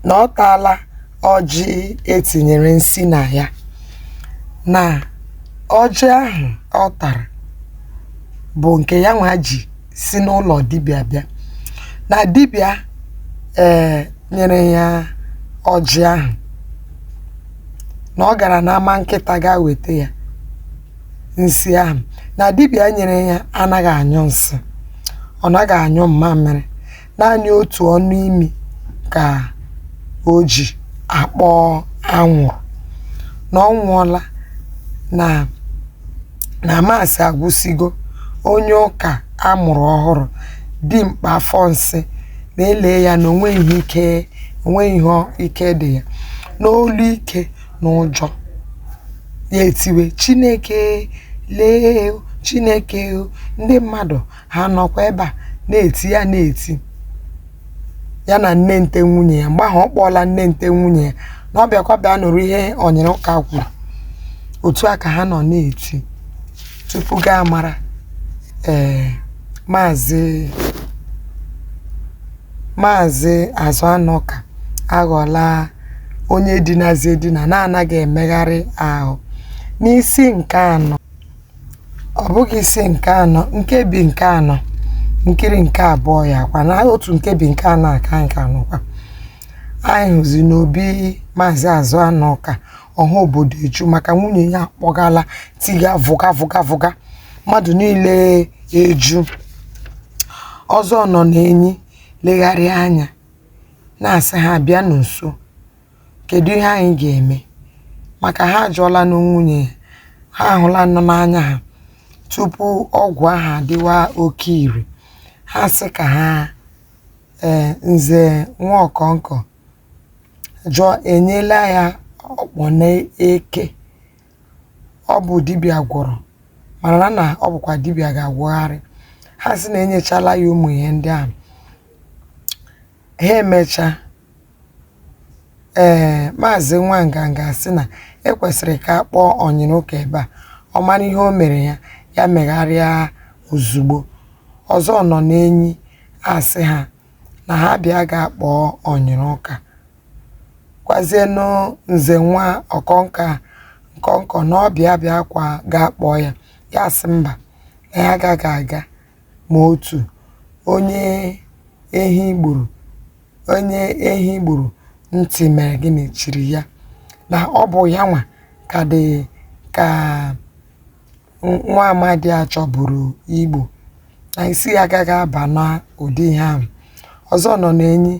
na ọ taala ọjị e tinyere nsi na ya na ọjị ahụ ọ tara bụ nke ya nwa ji si n'ụlọ dibịa bịa na dibịa ee nyere ya ọjị ahụ na ọ gara n'Ama Nkịta gaa weta ya nsi ahụ na dibịa nyere ya anaghị anyụ nsị ọ naghị anyụ mmamịrị naanị otu ọnụ imi ka o ji akpọ anwụrụ na ọ nwụọla na na maasị agwụsịgo onye ụka a mụrụ ọhụrụ dimkpa afọ nsị na-ele ya na o nweghị ihe ike o nweghị ihe ọ- ike dị ya n'olu ike na ụjọ ya etiwe chineke lee o, chineke o, ndị mmadụ ha nọkwa ebe a na-eti ya na-eti ya na Nnente nwunye ya mgbe ahụ ọ kpọọla Nnente nwunye ya na ọ bịakwa bịa nụrụ ihe Ọnyịrụka kwuru otu a ka ha nọ na-eti tupu gaa mara ee maazị maazị Azụanụka aghọla onye dinazị edina na-anaghị emegharị ahụ n'isi nke anọ Ọ bụghị isi nke anọ, nkebi nke anọ, nkiri nke abụọ ya kwa n'otu nkebi nke anọ a ka anyị ka nọkwa. Anyị hụzi n'obi Maazị Azụanụka, ọha obodo eju maka nwunye ya akpọgala tiga vụga vụga vụga, mmadụ niile eju. Ọzọ Ọnọnenyi legharịa anya na-asị ha bịanụ nso, Kedụ ihe anyị ga-eme? Maka ha ajụọlanụ nwunye ya, ha ahụlanụ n'anya ha tupu ọgwụ ahụ adịwa oke ire. Ha asị ka ha ee Nze Nwaọkọnkọ jụọ e nyeela ya ọkpọ na eke. Ọ bụ dibịa gwọrọ mana na ọ bụkwa dibịa ga-agwọgharị. Ha sị na e nyechala ya ụmụ ihe ndị ahụ. Ha emechaa, Ee, Maazị Nwanganga asị na e kwesịrị ka a kpọọ Ọnyịrụka ebe a, ọ mara ihe o mere ya, ya megharịa ozugbo. Ọzọ Ọnọnenyi asị ha na ha bịa gaa kpọọ Ọnyịrụka. Gwazienụ Nze Nwaọkọn- Ọkọnkọ na ọ bịa bịakwa gaa kpọọ ya. Ya asị mba, na ya agaghị aga. ma otu onye ehi gburu onye ehi gburu ntị mere gịnị chiri ya na ọ bụ ya nwa ka dị ka nwa amadị a chọburu igbu na isi ya agaghị aba na ụdị ihe ahụ ọzọ nọ n'enyi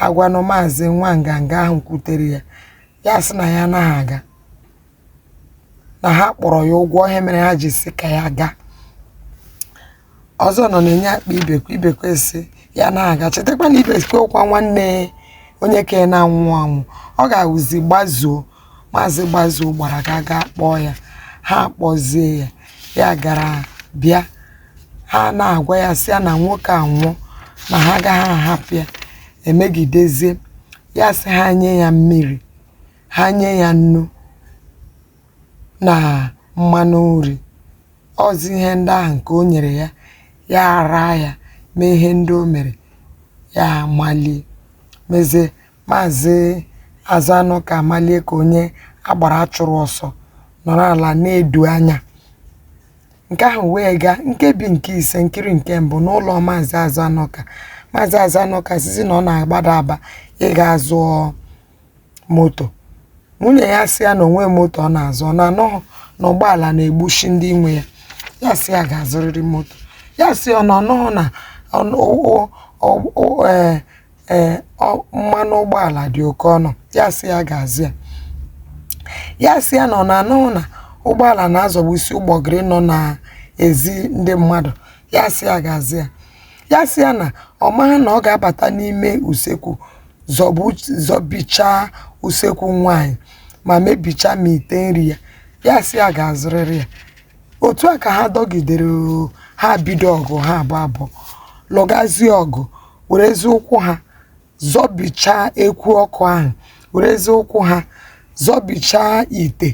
agwanụ maazị nwanganga ahụ kwutere ya ya sị na ya anaghị aga na ha kpọrọ ya ụgwọ ihe mere ha ji sị ka ya gaa ọzọ nọ n'enyi akpọọ ibekwe ibekwe sị ya anaghị aga chetakwa na ibekwe wụkwa nwanne onye ka na-anwụ anwụ ọ ga-awụzi gbazuo maazị gbazuo gbara ga gaa kpọọ ya ha kpọzie ya ya gara bịa ha na-agwa ya sị ya na nwoke a nwụọ na ha agaghị ahapụ ya emegidezie ya sị ha nye ya mmiri ha nye ya nnu na mmanụ nri ọzi ihe ndị ahụ nke o nyere ya ya araa ya mee ihe ndị o mere ya amalie mezie maazị azụanụka amalie ka onye agbara chụrụ ọsọ nọrọ ala na-edu anya nke ahụ wee gaa nkebi nke ise nkiri nke mbụ n'ụlọ maazị azụanụka maazị azụanụka sịzi na ọ na-agbada aba ịga zụọ moto nwunye ya sị ya na o nwe moto ọ na-azụ ọ na ọ nụghị na ụgbọala na-egbusi ndị nwe ya ya sị ya ga-azụrịrị moto ya sị ọ na ọ nụghị na ọnụ- o- o- o- ee, ee, ọ- mmanụ ụgbọala dị oke ọnụ ya sị ya ga-azụ ya ya sị ya na ọ na ọ nụghị na ụgbọala na-azọgbusi ụgbọgịrị nọ n'ezi ndị mmadụ ya sị ya ga-azụ ya ya sị ya na ọ maghị na ọ ga-abata n'ime usekwu zọbu zọbichaa usekwu nwaanyị ma mebichaa ma ite nri ya ya sị ya ga-azụrịrị ya otu a ka ha dọgidere oo, ha bido ọgụ ha abụ abụọ lụgazie ọgụ werezi ụkwụ ha zọbichaa ekwu ọkụ ahụ werezie ụkwụ ha zọbichaa ite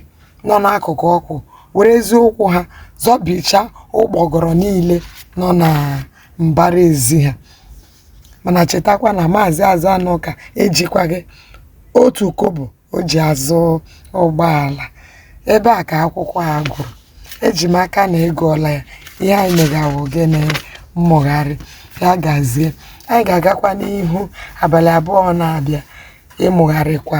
nọ n'akụkụ ọkụ werezie ụkwụ ha zọbichaa ụgbọgọrọ niile nọ na mbara ezi ha mana chetakwa na maazị azụanụka ejikwaghị otu kọbọ o ji azụ ụgbọala ebe a ka akwụkwọ a gwụrụ eji m aka na ị gụọla ya ihe anyị mega wụ gịnị mmụgharị ya gazie anyị ga-agakwa n'ihu abalị abụọ na-abịa ịmụgharịkwa